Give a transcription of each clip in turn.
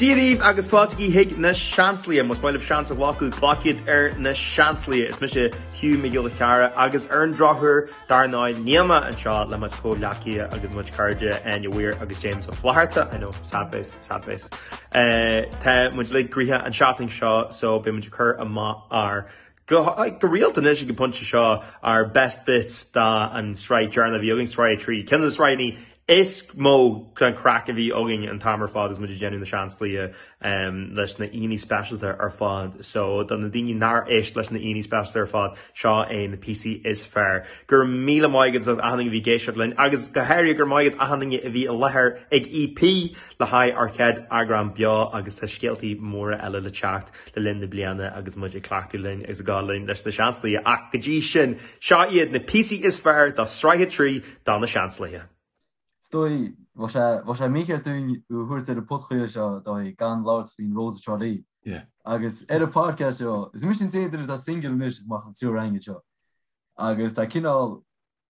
Dia dhaoibh agus fáilte chuig Na Seansálaithe. Más maith libh seans a ghlacadh, glac iad ar Na Seansálaithe. Is mise Hugh Mac Giolla Cheara agus ar an drochuair, dar ndóigh, níl mé anseo le mo chuid comhghleacaithe agus mo chuid cairde, Áine Weir agus James Ó Flatharta, I know, sad face, sad face. Tá muid uilig gnoitheach an seachtain seo so beidh muid ag cur amach ár Go rialta anois ag an bpointe seo ár best bits den sraith deireanach a bhí againn, sraith a trí. Ceann de na sraitheanna is mó den chraic a bhí againn an t-am ar fad agus muid ag déanamh Na Seansálaithe leis na haíonna speisialta ar fad. So, do na daoine nár éist leis na haíonna speisialta ar fad, seo é na píosaí is fearr. Go raibh míle maith ag achan duine a bhí ag éisteacht linn agus go háirithe go raibh maith ag achan duine a bhí i láthair ag EP le haghaidh ár chéad eagrán beo agus tá scéaltaí móra eile le teacht. le linn na bliana agus muid ag cleachtadh linn agus ag gabháil linn leis Na Seansálaithe ach go dtí sin, seo iad na píosaí is fearr de sraith a trí de Na Seansálaithe. Is dóigh, bheadh sé mícheart dúinn a thabhairt ar an podchraoladh seo dóigh gan labhairt faoin Rose of Tralee agus ar an podcast seo, is mise an t-aon duine atá singil anois amach as an triúr againne seo agus tá cineál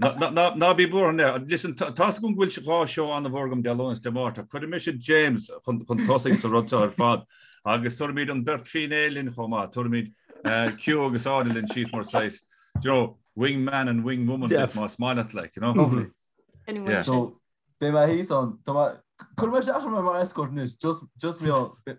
Ná bí buartha le. Listen, tá a fhios agam go bhfuil dhá seó an-mhór agam Dé Luain is Dé Máirt, cuirfidh mise James chun tosaigh sa rud seo ar fad, agus tabharfaimid an beirt fíné linn chomh maith, tabharfaimid Hugh agus Áine linn síos mar saghas, do you know, wing man and wing woman bit más maith leat, like, you know. Lovely. Anyway. So. Beidh mé thíos ann. Tá mé, cuirfidh mé isteach ar an mar escort anois, just, just mé á,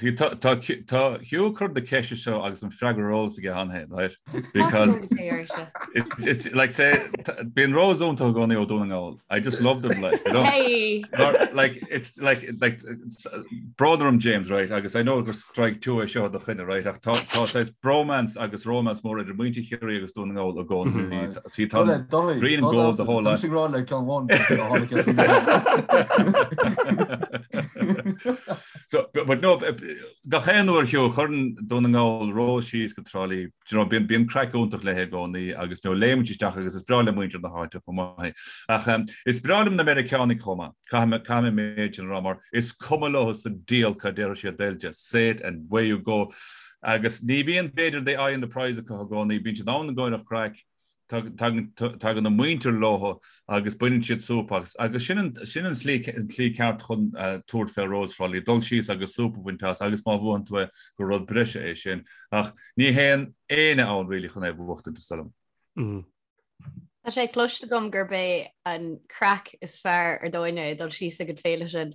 Tá Hugh ag cur na ceiste seo agus an freagra ar eolas aige cheana féin right because it's like say bíonn Rose iontach i gcónaí ó Dún na nGall I just love them like you know like it's like like brón orm James right agus I know gur strike two é seo i do choinne right ach tá tá bromance agus romance mór idir muintir Chiarraí agus Dún na nGall i gcónaí tí tá green and gold the whole lot. Sin rá le ceann bháin. So, but no, gach aon uair Hugh, a chuireann Dún na nGall rós síos go Trá Lí. Do you know, bíonn, bíonn craic iontach léi i gcónaí agus, you know, léimeann sí isteach agus is breá le muintir na háite chomh maith é. Ach um, is breá liom na Meiriceánaigh chomh maith. Caithfidh mé, caithfidh mé an méid sin a rá mar is cuma leo sa diabhal cad a déarfaidh siad, they'll just say it and away you go. Agus ní bhíonn, b'fhéidir the eye on the prize acu i gcónaí, bíonn siad ann i gcomhair an chraic, tagann a muintir leo agus baineann siad súp as, agus sin an tslí ceart chun tabhairt fén Rose of Tralee, dul síos agus súp a bhaint as, agus má bhuann tú é, gur rud breise é sin, ach ní théann éinne ann really chun é a bhuachtaint, is dóigh liom. Tá sé cloiste agam gurb é an craic is fearr ar domhan é dul síos ag an féile sin.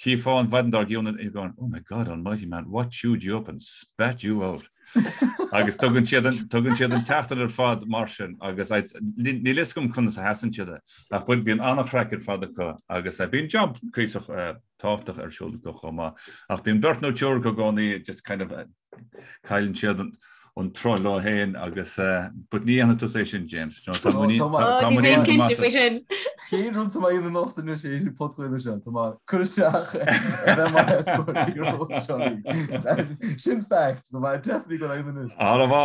Chífeá an mhaidin dár gcionn and going, Oh my God almighty man, what chewed you up and spat you out? Agus tugann siad an, tugann siad an tseachtain ar fad mar sin agus I'd, níl a fhios agam conas a sheasann siad é ach but bíonn an-chraic ar fad acu agus eh, bíonn job cuíosach eh, tábhachtach ar siúl acu chomh maith ach bíonn beirt nó triúr acu i gcónaí just kind of eh, Cailleann siad an troid leo féin agus but ní dhéanfaidh tú é sin James. Tá Tá muinín Tá Tá muinín muinín agam cinnte as. faoi sin. Cén rúnta á nochtadh sa phodchraoladh seo Tá mar cur isteach mar escort Sin fact Tá mar definitely go aon Armha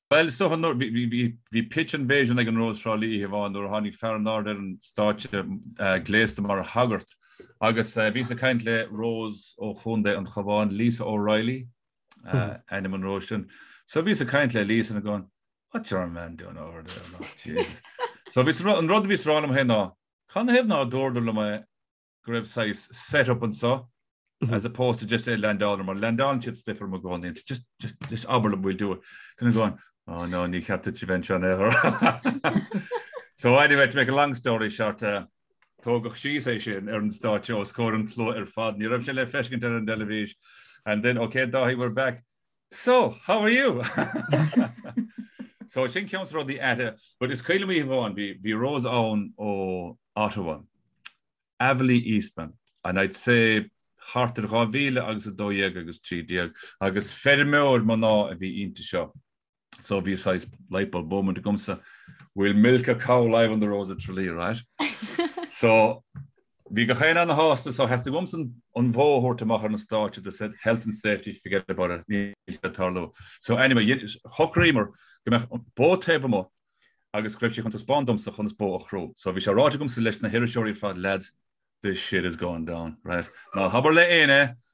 Bhuel, is dócha nuair, bhí pitch invasion ag an Rós Thrá Lí oíche amháin nuair a tháinig fear in airde ar an stáitse gléasta mar shagart agus bhíos ag caint le Rose ó Chontae an Chabháin, Lisa O'Reilly ainm an Róis sin. So bhíos ag caint le Lisa and going, What's your man doing over there? Like, Jesus. So bhíos, an rud a bhíos a rá liom féin ná, Canathaobh ná dúradar liom go raibh saghas set up anso as opposed to just é a landáil orm, landálann siad stuif orm i gcónaí and just, just, just abair liom we'll do it. Then I'm going, oh no, ní cheart duitse a bheith anseo in aon chor. So anyway, to make a long story short, uh, tógadh síos é sin ar an stáitse os comhair an tslua ar fad, ní raibh sé le feiscint ar an dteilifís. And then, okay Dáithí, we're back. So, how are you? so, sin ceann des na rudaí aite. But is cuimhin liom oíche amháin, bhí Rose ann ó Ottawa, Avaleigh Eastman, and I'd say thart ar 2000 agus 12 agus 13, agus feirmeoir mná a bhí inti seo. So, bhí saghas light bulb moment agamsa, we'll milk a cow live on the Rose of Tralee, right? So, Bhí gach éinne an-shásta, so theastaigh uaimse an bhó a thabhairt amach ar an stáitse they said health and safety, forget about it, níl sé ag tarlú. So anyway, shocraíomar go mbeadh bó taobh amuigh agus go raibh sé chun taispeáin domsa conas bó a chrú. So bhí sé ráite agamsa leis na hiriseoirí ar fad lads, this shit is going down, right? Ná habair le éinne!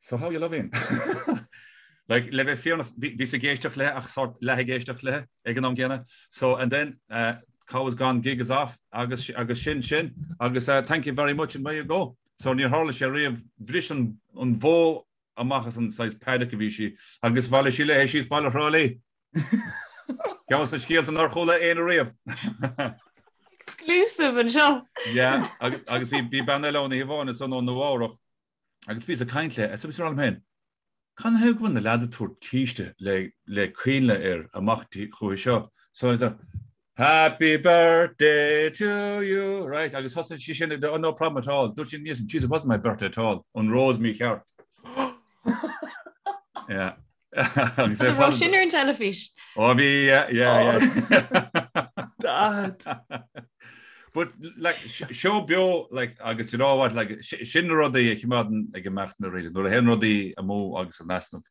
So how you loving? like le bheith fírinneach bhíos ag éisteacht léi ach sort leath ag éisteacht léi ag an am gcéanna. So and then uh, cow is gone, gig is off agus agus sin sin agus uh, thank you very much and away you go. So níor tharla sé riamh bhris an, an bhó amach as an saghas paddock a bhí sí agus bhailigh sí léi síos baile Thrá Ceann des na scéalta nár chuala éinne riamh. Exclusive anseo. Yeah, agus bhí bean eile ann oíche amháin ansan ó Nua-Eabhrac agus bhíos ag caint léi agus bhíos ag rá liom féin, canathaobh go bhfuil na leads ag tabhairt císte le coinnle air amach chuici seo. Happy birthday to you Right, agus thosaigh sí sin ag, oh no problem at all, dúirt sí aníos, and jeez it wasn't my birthday at all, an Rós mícheart. Yeah. Agus é fáil. Sin ar an teilifís. Ó bhí, yeah, yeah. Dad. But like seó beo like agus you know what like sin rudaí a choimeádann ag imeacht na réidir nuair a théann rudaí amú agus in easnamh.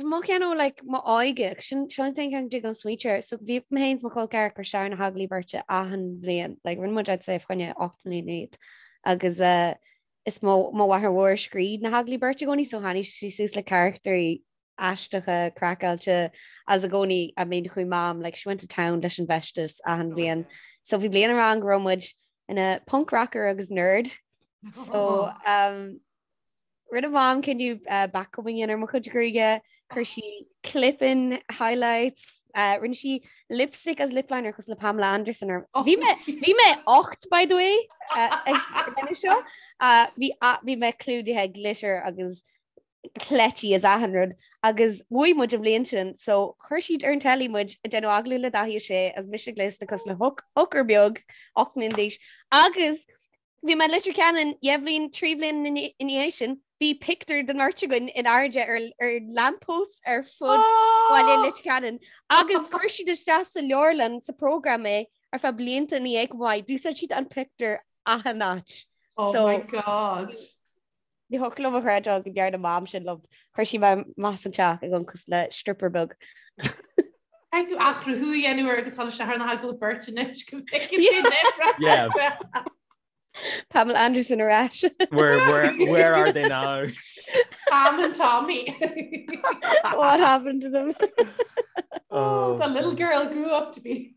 Tá mo cheann ó like mo óige. Sílim seo an t-aon cheann go dtig liom smaointiú air. So bhí mé féin is mo chol ceathrar Sarah na hAgallaimh Beirte achan bhliain. Like rinne muid I'd say fá choinne ocht mbliana iad. Agus eh is mo mo mháthair mhór a scríobh na hAgallaimh Beirte i gcónaí so tháinig sí suas le carachtraí aisteacha craiceáilte is i gcónaí I mean chuaigh Mam like she went to town leis an bhfeisteas achan bhliain. So bhí bliain amháin go raibh muid ina punk rocker agus nerd. So umm Rinne Mam cinneadh backcombing a dhéanamh ar mo chuid gruaige, chuir sí clip-in, highlights, rinne sí lipstick as lip-liner cosúil le Pamela Anderson orm. Oh. Bhí mé bhí mé ocht by the way ag seo. Bhí bhí mé clúdaithe glitter agus cleití is achan rud agus bhuaigh muid an bhliain sin so chuir siad ar an telly muid ag déanamh agallamh le Dáithí Ó Sé is mise gléasta cosúil le hooker beag 8 mbliana d'aois agus Bhí mé i Leitir Ceanainn dhá bhliain, trí bliana ina dhiaidh sin. Bhí pictiúr den bheirt againn in airde ar lamppost ar fud Bhaile Leitir Ceanainn agus chuir siad isteach sa leabharlann sa prógram é ar feadh blianta ina dhiaidh chomh maith. D'úsáid siad an pictiúr achan áit. Oh my God! Ní thiocfadh liom a chreidbheáil go ndearna Mam sin liom. Chuir sí mé amach as an teach ag amharc cosúil le stripper beag. Caithfidh tú athchruthú a dhéanamh air agus tháinig sé thar na hAgallaimh Beirte anois go bhfeiceann tú libh breise. Pamela Anderson ar ais. Where, where, where are they now? Pam and Tommy. What happened to them? Oh, the little girl grew up to be.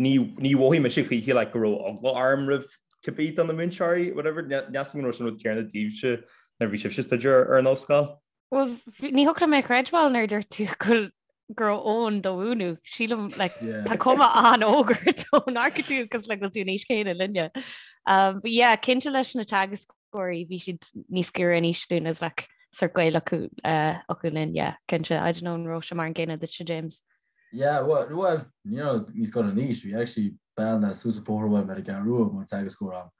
Níor mhothaigh mise choíche like go raibh eagla orm roimh cibé duine de na múinteoirí, whatever, níl a fhios agam an raibh sé an rud céanna daoibhse nuair a bhí sibhse ag staidéar ar an ollscoil. Bhuel, ní thiocfadh liom a chreidbheáil nuair a dúirt tú go bhfuil go raibh Eoin do do mhúineadh. Sílim like Yeah. tá cuma an-óg ort ó amharcann tú cosúil le go bhfuil tú an aois chéanna linne. Um, but yeah, cinnte leis na teagascóirí bhí siad níos giorra in aois dúinn is bheadh sórt gaol acu, uh, acu linn, yeah, cinnte. I don't know an raibh sé mar an gcéanna duitse, James. Yeah, bhuel, you know, níos gunna anois, bhí actually bean ó suas an bóthar uaim ar an gCeathrú Rua ina teagascóir agam.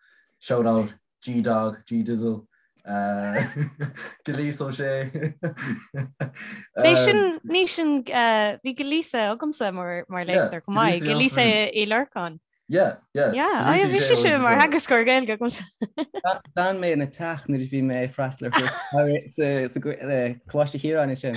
Shout out, G-Dog, G-Dizzle, Gilíosa, sea. Bhí sin, ní sin, bhí Gilíosa agamsa mar léachtóir chomh maith, Gilíosa Ní Lorcáin. Yeah, yeah. Yeah, bhí sí mar theagascóir Gaeilge agam. D'fhan mé ina teach nuair a bhí mé ag freastal ar chúrsa Coláiste Chiaráin ansin.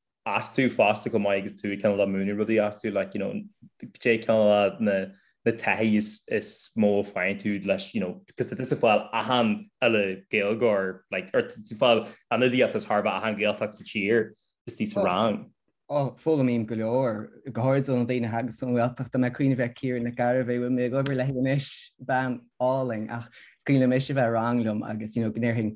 astu fosta chomh maith agus tú cineál ag múineadh rudaí astu like you know sé ceann de na na taithí is is mó a fhaigheann tú leis you know cos tá tusa ag fáil achan chineál gaeilgeoir like or tú fáil ionadaíocht as chóir a bheith achan gaeltacht sa tír istigh sa rang. Ó, foghlaimím go leor, go háirid ó na daoine a thig as an Ghaeltacht, mé ag cuimhneamh ar Ciara Nic Gairbheith bhfuil mé ag obair léithi anois bean álainn ach is cuimhin liom ise bheith sa rang liom agus you know go ndéarfainn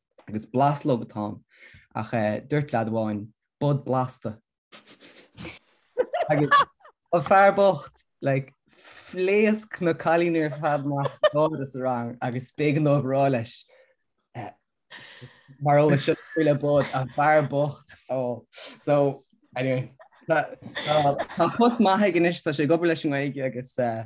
Agus blaslóg atá ann, ach eh, duirt leaid amháin, bod blasta. Agus an fear bocht, like, phléasc na cailíní ar fad amach ag gáire sa rang agus b'éigean dom a rá leis, eh, mar eolas seo chuile bod, an fear bocht, oh. So, anyway, tá, tá, tá post maith aige anois, tá sé ag obair leis an nGaeilge agus eh,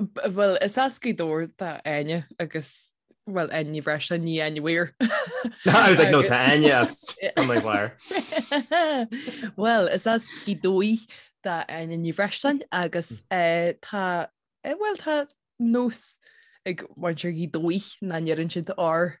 Bhuel is as Gaoth Dobhair do Áine agus bhuel Áine Ní Bhreisleáin ní Áine Mhaoir. I was like, no, tá Áine as an Maigh Mhaoir. Bhuel is as Gaoth Dobhair do Áine Ní Bhreisleáin agus mm. eh, tá eh, bhuel tá nós ag muintir Ghaoth Dobhair nach ndeireann siad r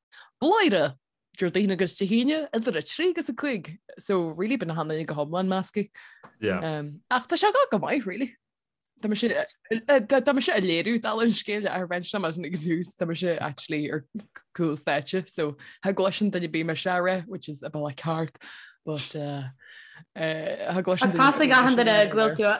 Bladhaire! Déardaoin agus Dé hAoine idir 3 agus 5, so really bíonn achan duine go hiomlán measctha. Yeah. Um, ach tá sé go maith, really. Tá mise tá mise ag léiriú dála an scéil ar bhain sem as ag dús tá mise actually ar chúl stáitse, so cha gcloiseann duine ar bith mé se ra, which is a bit like hard, but uh, uh, cha gcloiseann Tá duine- tá a fhios ag achan duine go bhfuil tú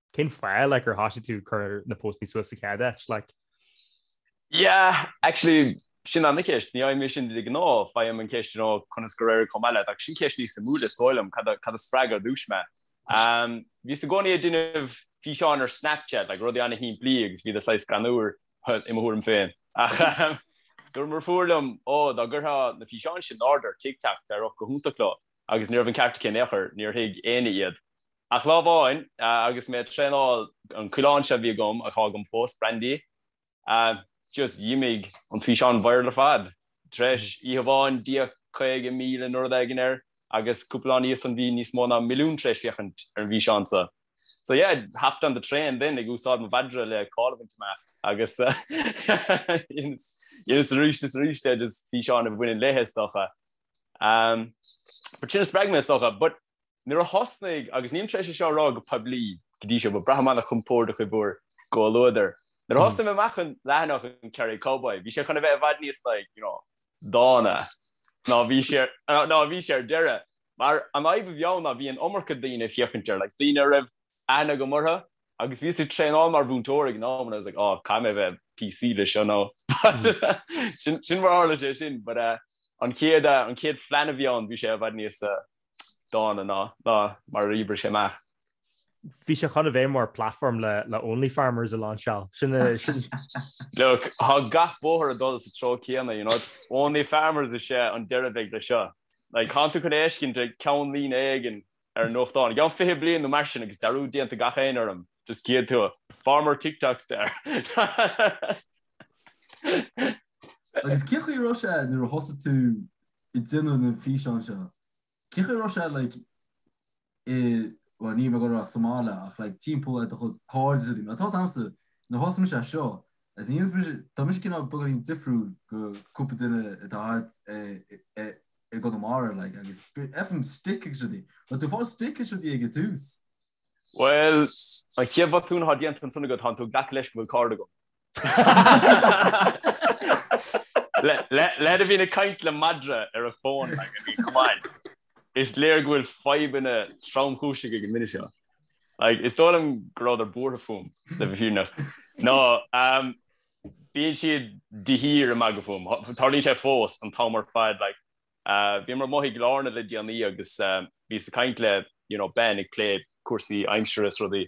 Cén fáth like, ar thosaigh tú ag cur na póstaí suas sa chéad áit? Like... Yeah, actually, sin an ceist. Ní fhaighim é sin de ghnáth. Faighim an ceist you know, conas gur éirigh chomh maith leat. Ach sin ceist níos suimiúla, is dóigh liom, cad a, cad a spreag ar dtúis mé. Um, bhíos i gcónaí ag déanamh físeáin ar Snapchat, like, rudaí an-shimplí agus bhíodar saghas greannmhar i mo thuairim féin. Ach um, dúirt mo dheirfiúr liom, ó, oh, dá gcuirfeá na físeáin sin in airde ar TikTok, d'éireodh go hiontach leo. Agus ní raibh an ceart aici in aon chor, níor thuig éinne iad. Ach lá amháin agus mé ag traenáil, an coileán seo a bhí agam, atá agam fós, Brandy, just dh'imigh an físeán viral ar fad. Tar éis oíche amháin, d'fhéach 50,000 nó rud éigin air agus cúpla lá ina dhiaidh san bhí níos mó ná milliún tar éis féachaint ar an bhfíseán seo. So yeah, hopped on the train then, ag úsáid mo mhadra le cáil a bhaint amach agus dhéanas arís is arís é, just físeáin a bhaineann léithe is dócha. But sin a spreag mé is dócha, but Nuair a thosnaigh, agus nílim tréis é seo a rá go poiblí go dtí seo, but braithim an-chompordach i bhur gcomhluadar, nuair a thosnaigh mé amach an leathanach an Kerry Cowboy, bhí sé chun a bheith i bhfad níos like, you know, dána ná bhí sé ná bhí sé ar deireadh. Mar an fhadhb a bhí ann ná bhí an iomarca daoine ag féachaint air, like daoine a raibh aithne agam orthu agus bhíos ag traenáil mar mhúinteoir ag an am and I was like, oh, caithfidh mé bheith PC le seo now. Sin mar tharla sé sin, but an chéad an chéad phlean a bhí ann bhí sé i bhfad níos dána ná ná mar a d'oibrigh sé amach. Bhí sé chun a bheith mar platform le le Only Farmers a lainseáil. Look, tá gach bóthar ag dul sa treo céanna, you know, it's Only Farmers is é an deireadh a bheidh leis seo. Like, tánn tú chun é a fheiscint i gceannlíne éigin ar an nuachtán, i gceann 20 bliain nó mar sin agus dearúd déanta ag gach éinne orm, just cífidh tú Farmer TikTok Star. Agus cén chaoi a raibh sé nuair a thosaigh tú ag déanamh na bhfíseán seo. Cén chaoi a raibh sé like i bhuel níl mé ag rá sa mbaile ach like timpeall ar do chuid cairde is rudaí mar tá's a'msa nuair a thosaigh mise seo as in tá mise cineál beagáinín difriúil go cúpla duine atá thart i gConamara like agus faighim stick agus rudaí but raibh tú ag fáil stick is rudaí ag tús Well an chéad bhotún atá déanta ansan ná go tánn tú ag glacadh leis go bhfuil cairde ag Leaid a bhíonn ag caint le madra ar a fón like I mean come on. Is léir go bhfuil fadhbanna tromchúiseacha ag an nduine seo. Like is dóigh liom go rabhadar buartha fúm, le bheith fírinneach. No, bíonn siad de shíor ag magadh fúm. Tarlaíonn sé fós an t-am ar fad. Like bhíomar amuigh i gCill Airne le déanaí agus bhíos ag caint le, you know, Ben ag plé cúrsaí aimsire is rudaí.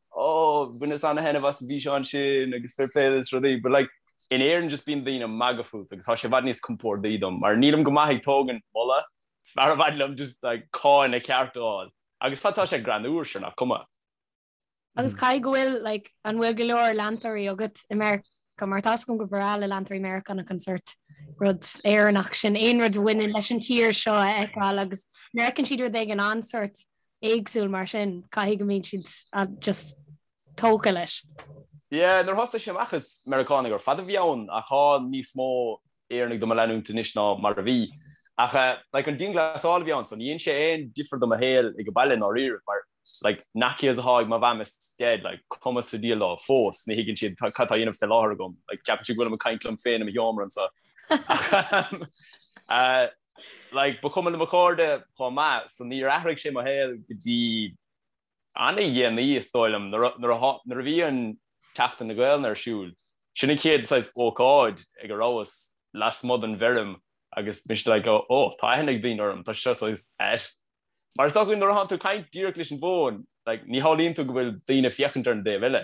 oh bhaineas ana-thaitneamh as an bhfíseán sin agus fair play is rudaí but like in Éirinn just bíonn daoine ag magadh fút agus tá sé i bhfad níos compordaí dom mar nílim go maith ag tógaint moladh is fearr i bhfad liom just like cáineadh ceart a fháil agus fad atá sé greannúr sure nach cuma. Agus caithfidh go bhfuil like an bhfuil go leor leantóirí agat i Meiriceá mar tá's agam gur breá le leantóirí Meiriceánacha an sort rud Éireannach sin aon rud a bhaineann leis an tír seo a fheiceáil agus mar feiceann siad rud éigin an-sort éagsúil mar sin caithfidh go mbíonn siad just tógtha leis. Yeah, nuair a thosaigh sé amach is Meiriceánaigh ar fad a bhí ann ach tá níos mó Éireannaigh do mo leanúint anois ná mar a bhí. Ach eh, like, an dianghlasáil a bhí ann so ní dhein sé aon difear do mo shaol ag an baile i ndáiríribh mar like, na kids atá ag mo mham is dad, like, cuma sa diabhal leo fós, ní thuigeann siad cad tá á dhéanamh fé láthair agam, like, ceapann siad go bhfuilim ag caint liom féin i mo sheomra anseo. Ach eh, like, ba chuma le mo chairde chomh maith, so níor athraigh sé mo shaol go dtí ana dhéanaí is dóigh liom, nuair a bhí an tSeachtain na Gaolainne ar siúl. Sin an chéad saghas ócáid ag a rabhas lasmuigh den bhfeirm agus mise like, oh, oh, tá aithne ag daoine orm, tá seo saghas ait. Mar is dócha nuair a tánn tú ag caint díreach leis an bhfón, like, ní shamhlaíonn tú go bhfuil daoine ag féachaint ar an dtaobh eile.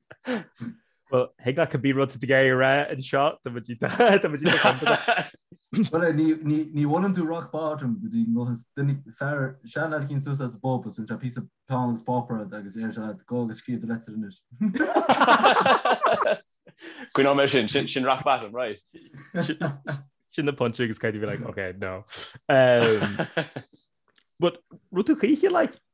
Well he that could be rud de gé ra an seo ní bhhanan tú rock bottom go dtí nó fear sean cinn sus as bob ún se pí pounds popper agus é se go agus scríb le is. Cuin mé sin sin sin rock bottom right. Sin na punch agus caiidir bhí like, okay, no. Um, but rutú chuiche like,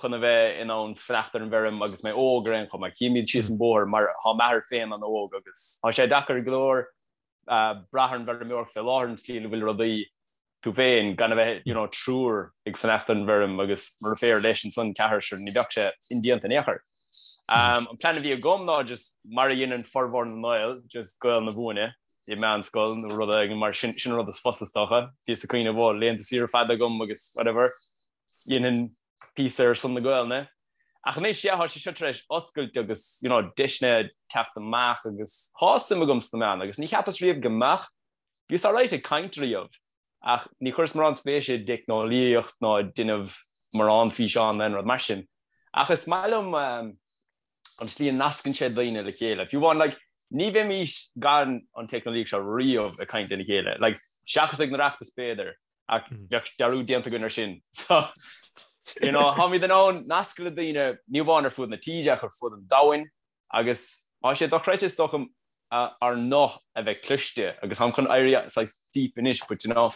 chun a bheith in ann fanacht ar an bhfeirm agus mé óg ar aon chuma, ach chímid síos an bóthar mar thá m'athair féin ana-óg agus thá sé deacair go leor braith ar an bhfeirmeoireacht fé láthair an tslí a bhfuil rudaí tú féin gan a bheith you know triúr ag fanacht ar an bhfeirm agus mo dheirfiúr leis ansan ceathrar sure ní bheadh sé indéanta in aon chor. Umm an plean a bhí agam ná just mar a dheineann formhór na nGael just goil ag múineadh i meánscoil nó rud éigin mar sin sin an rud is fusa is dócha. Bhíos ag cuimhneamh go bhfuil laethanta saoire fada agam agus whatever déanamh píosa ar son na Gaelainne, ach anois, yeah, thá sé seo tar éis oscailt agus, you know, deiseanna ag teacht amach agus thá suim agam sna meáin agus ní cheapas riamh go mbeadh, bhíos alright ag caint riamh ach ní chuireas mórán spéise i dteicneolaíocht ná i ndéanamh mórán físeán ná aon rud mar sin. Ach is maith liom an tslí a nascann sé daoine le chéile, if you know what I mean, like, ní bheimis gan an teicneolaíocht seo riamh ag caint lena chéile, like, seachas ag na reachtais b'fhéidir, ach bheadh dearúd déanta againn air sin. So, you know, tháimid in ann nascadh le daoine, ní amháin ar fud na tíre ach ar fud an domhain, agus thá sé dochreidte, is dócha, ár nguth a bheith cloiste, agus tháim chun éirí saghas deep anois, but you know,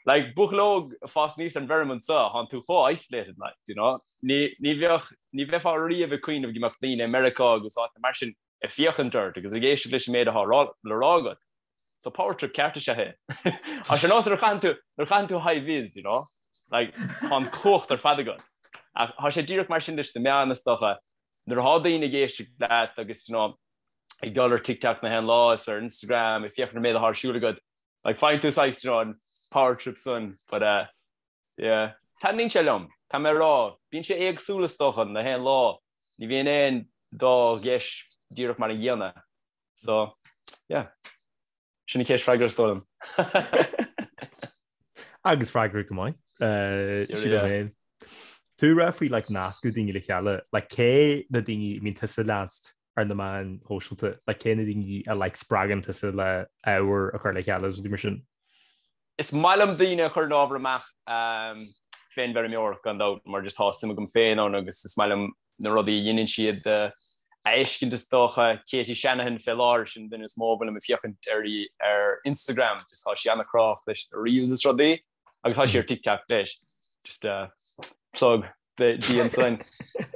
like, buachaill óg ag fás aníos ar an bhfeirm anseo, thánn tú chomh isolated, like, do you know, ní, ní bheadh, ní bheifeá riamh ag cuimhneamh go mbeadh daoine i Meiriceá agus áiteanna mar sin, ag féachaint ort agus ag éisteacht leis an méid atá le rá agat. So power trip ceart is ea é. Thá sé ar nós nuair a chaitheann tú high vis, you know, like, thá an chumhacht ar fad agat. Thá sé díreach mar sin leis na meáin is dócha. Nuair athá daoine ag éisteacht leat agus, you know, ag dul ar TikTok 'chaon lá is ar Instagram ag féachaint ar an méid atá ar siúl agat, like, faigheann tú saghas, you know, an power trip san, but, uh, Yeah. Taitníonn sé liom. Táim a rá, bíonn sé éagsúil is dócha 'chaon lá. Ní bhíonn aon dá dheis díreach mar an gcéanna. So, yeah. Sin an saghas freagra is dóigh liom. Agus freagra go maith. Tú ag rá faoi like nascadh daoine le chéile, like cé na daoine a mbíonn tusa leanst ar na meáin shóisialta, like cé na daoine a like spreagann tusa le ábhar a chur le chéile is rudaí mar sin? Is maith liom daoine a chuireann ábhar amach fén bhfeirmeoireacht gan dabht mar just thá suim agam féin ann agus is maith liom na rudaí a dheineann siad a fheiscint is dócha Katie Shanahan fé láthair sin an duine is mó a bhfuilim ag féachaint uirthi ar Instagram just tá sí ana-chruthaitheach leis na reels is rudaí. agus thá sí ar TikTok leis. Just a plug di ansan.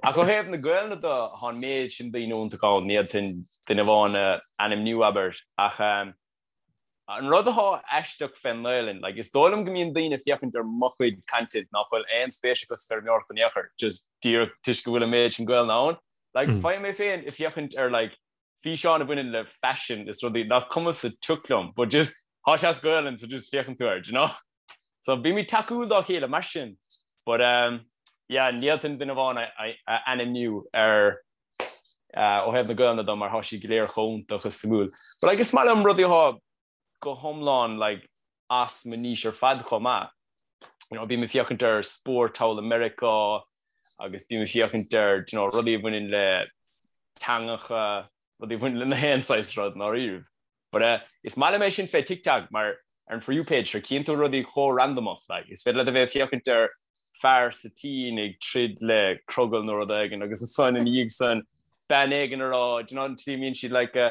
Ach ó thaobh na Gaelainne de, thá an méid sin daoine iontach ann, ní fhéadfainn duine amháin a ainmniú, abair. Ach an rud athá aisteach fén nGaelainn, like, is dóigh liom go mbíonn daoine ag féachaint ar mo chuid content nach bhfuil aon spéis acu sa bhfeirmeoireacht in aon chor, just díreach toisc go bhfuil an méid sin Gaelainne ann. Like, faighim mé féin ag féachaint ar, like, físeáin a bhaineann le faisean is rudaí nach cuma sa tioc liom but just thá sé as Gaelainn so just féachann tú air do you know? so bímid tacúil dá chéile mar sin but um yeah ní fhéadfainn duine amháin a a ainmniú ar ó thaobh na Gaelainne de mar thá siad go léir chomh iontach is suimiúil but like is maith liom rudaí thá go hiomlán like as mo niche ar fad chomh maith. You know, bím ag féachaint ar spórt thall i Meiriceá agus bím ag féachaint ar, do you know, rudaí a bhaineann le teangacha, rudaí a bhaineann le na haon saghas rud ndáiríribh. But eh, is maith liom é sin fé TikTok mar ar an For You page seo cíonn tú rudaí chomh randamach like. Is féidir leat a bheith ag féachaint ar fear sa tSín ag troid le crogall nó rud éigin agus ansan ina dhiaidh san bean éigin ag rá, do you know, an tslí a mbíonn siad like eh,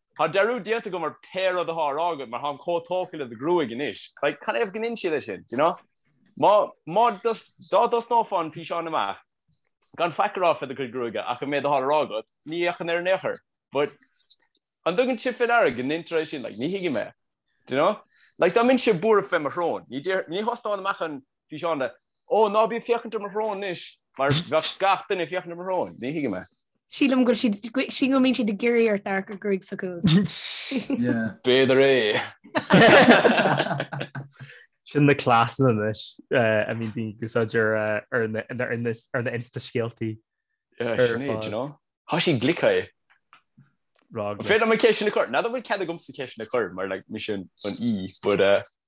Thá dearúd déanta agam ar pé rud athá á rá agat mar tháim chomh tógtha le do ghruaig anois. Like, canathaobh go ndeineann siad é sin, do you know? Má, má dos, dá dtosnófá an físeán amach, gan faic a rá fé do chuid gruaige ach an méid athá le rá agat, ní fhéachfainn air in aon chor. But, an dtugann sibh fé ndeara go ndeintear é sin, like, ní thuigim é. Do you know? Like, dá mbeinnse buartha fé mo shrón, ní déarfadh, ní thosnóinn amach an físeán de, Ó, ná bí ag féachaint ar mo shrón anois, mar bheadh gach duine ag féachaint ar mo shrón, ní thuigim é. Sílim go mbíonn siad ag iarraidh ort amharc ar an ghruaig s'acu. B'fhéidir é. Sin na cleasanna anois a mbíonn daoine ag úsáid ar na insta scéaltaí. Thá siad glic, yeah. Féidir liom ceisteanna a chur. N'fheadar an bhfuil cead agamsa ceisteanna a chur mar mise an aoi, but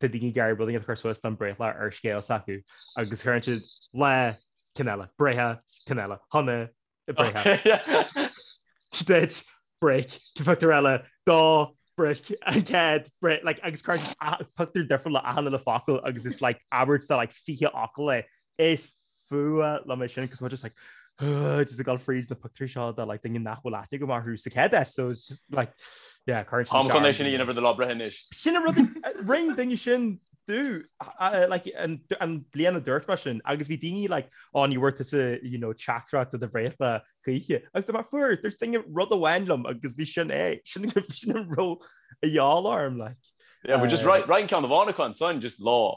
tá daoine ag iarraidh rud éigin a chur suas don bhreithlá ar scéal s'acu agus cuireann siad lá, ceann eile, breithe, ceann eile, shona, breithe. Duit break pictiúr eile do break an cead agus pictiúr difriúil le achan uile focal agus is like abairt de like fiche focal é Is fuath liom é sin cos just like just ag gabháil fríd na pictiúirí seo de like duine nach bhfuil aithne agam ar hús a cead so it's just like yeah current Táim chun sin a dhéanamh do do lá breithe anois. Sin an rud rinne duine sin domh i mbliana dúirt mar sin agus bhí daoine like an bhfuair tusa you know teachtaireacht do do bhreithlá chuige agus do mar fuair dúirt duine rud amháin liom agus bhí sin é sin sin ro a dheáil orm like. Yeah, we're just right right ceann amháin acu an son just lá.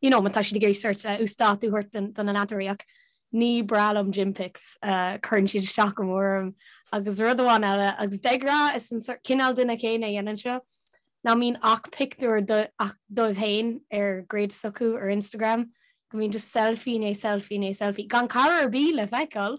you know, má tá siad ag iarraidh sort uasdátú a thabhairt do na leantóirí ach ní breá liom gym pics, cuireann siad isteach go mór orm agus rud amháin eile agus de ghnáth is an sort cineál duine céanna a dhéanann seo, nach mbíonn ach pictiúr ach dóibh féin ar grid s'acu ar Instagram, go mbíonn just selfie i ndiaidh selfie i ndiaidh selfie, gan cara ar bith le feiceáil,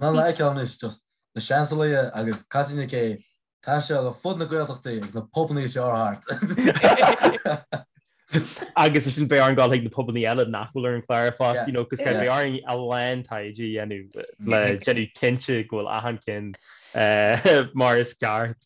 Ná leigh ceann anois do na Seansálaithe agus caitfidh na cé taise ar fud na Gaeltachtaí agus na pobannaí seo ar thart. Agus ansin beidh orainn gabháil chuig na pobannaí eile nach bhfuil ar an chlár fosta, you know, cos beidh orainn a lán taighde a dhéanamh le déanamh cinnte go bhfuil achan ceann mar is ceart.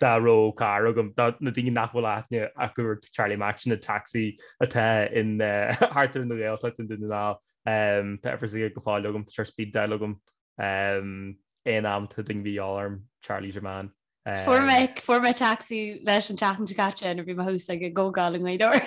dá raibh carr agam, do na daoine nach bhfuil aithne acu ar Charlie Mac sin, an tacsaí atá ann thart ar an nGaeltacht i nDún na nGall, tá uimhir s'aige go fóill agam, tá sé ar speed dial agam aon am, tá daoine a bhí ag ól orm, Charlie is your man. Fuair mé, fuair mé tacsaí leis an tseachtain seo caite nuair a bhí mé thuas ag an gcomhdháil i nGaoth Dobhair.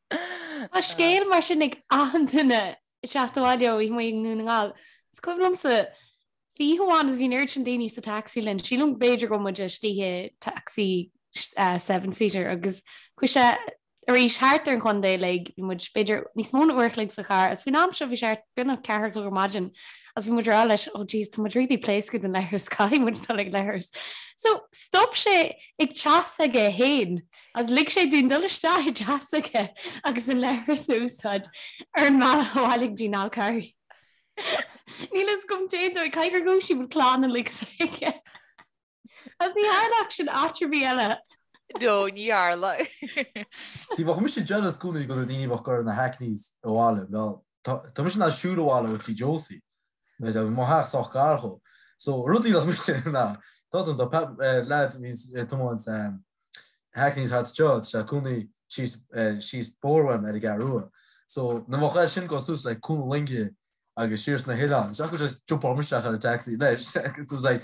Tá scéal mar sin ag achan duine ag teacht abhaile ó oíche amuigh i nDún na nGall. Is cuimhin liomsa oíche amháin is bhí an oiread sin daoine sa tacsaí linn. Sílim go b'fhéidir go raibh muid istigh i dtacsaí seven seater agus chuaigh sé arís thart ar an chontae uilig. Bhí muid b'fhéidir níos mó ná uair an chloig sa charr agus faoin am seo bhí sé thart beagnach a ceathair a chlog ar maidin agus bhí muid ag rá leis oh jeez tá muid really pléasctha don leithreas caithfidh muid dul ag leithreas. So stop sé ag teach s'aige fhéin. Is lig sé dúinn dul isteach i dteach s'aige agus an leithreas a úsáid ar an mbealach abhaile go dtí an Fál Carrach. Níl a fhios agam cén dóigh, cad gur dhúisigh muid an clann uilig s'aige. Agus ní tharlódh sin áit ar bith eile. No, ní tharlódh. Bhíodh mise jealous i gcónaí go raibh daoine ag dul ar na hackneys abhaile, well. tá mise in ann siúl abhaile ó tí Josie. Mo theach sách gar dhó. So rudaí nach mise in ann, tá a fhios agam do Pat leaid a bhí ag tiomáint na hackneys thart, tá sé ina chónaí síos síos an bóthar uaim ar an gCeathrú Rua. So nuair a bhíodh seisean ag goil suas like Cuan na Loinge agus siar sna hoileáin. So like just jumpáil mé isteach ar an taxi leis. It was like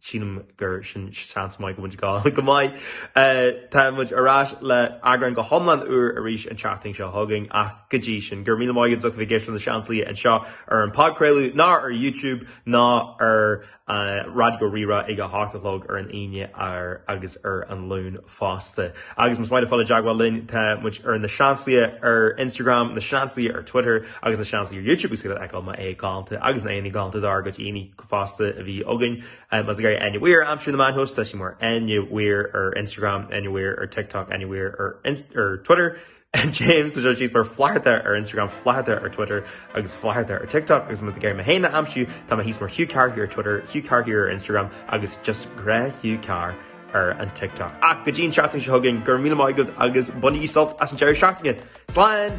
sílim gur sin seans maith go bhfuil gá go maith. Tá muid ar ais le eagrán go hiomlán úr arís an tseachtain seo chugainn ach go dtí sin, go raibh míle maith agat as a bheith ag éisteacht leis na Seansálaithe anseo ar an phodchraoladh ná ar YouTube ná ar Raidió Rí-Rá ag a hocht a chlog ar an Aoine agus ar an Luan. fosta. Agus más maith leat fáil i dteagmháil linn, tá muid ar na Seansálaithe ar Instagram, na Seansálaithe ar Twitter agus na Seansálaithe ar YouTube agus iad a fheiceáil m'aghaidh galánta agus na haghaidheanna galánta dár gcuid aíonna fosta a bhí againn. Má tá sibh ag iarraidh Enya Weir a aimsiú ar na meáin shóisialta, tá sí mar Enya Weir ar Instagram, Enya Weir ar TikTok, Enya Weir ar Twitter. James tá James thíos mar flatharta ar Instagram, flatharta ar Twitter agus flatharta ar TikTok agus má tá sibh ag iarraidh mé féin a aimsiú tá mé thíos mar Hugh Carr Here ar Twitter, Hugh Carr Here ar Instagram agus just gnáth Hugh Carr ar an TikTok. Ach go dtí an seachtain seo chugainn, go raibh míle maith agat agus bainigí sult as an deireadh seachtaine! Slán!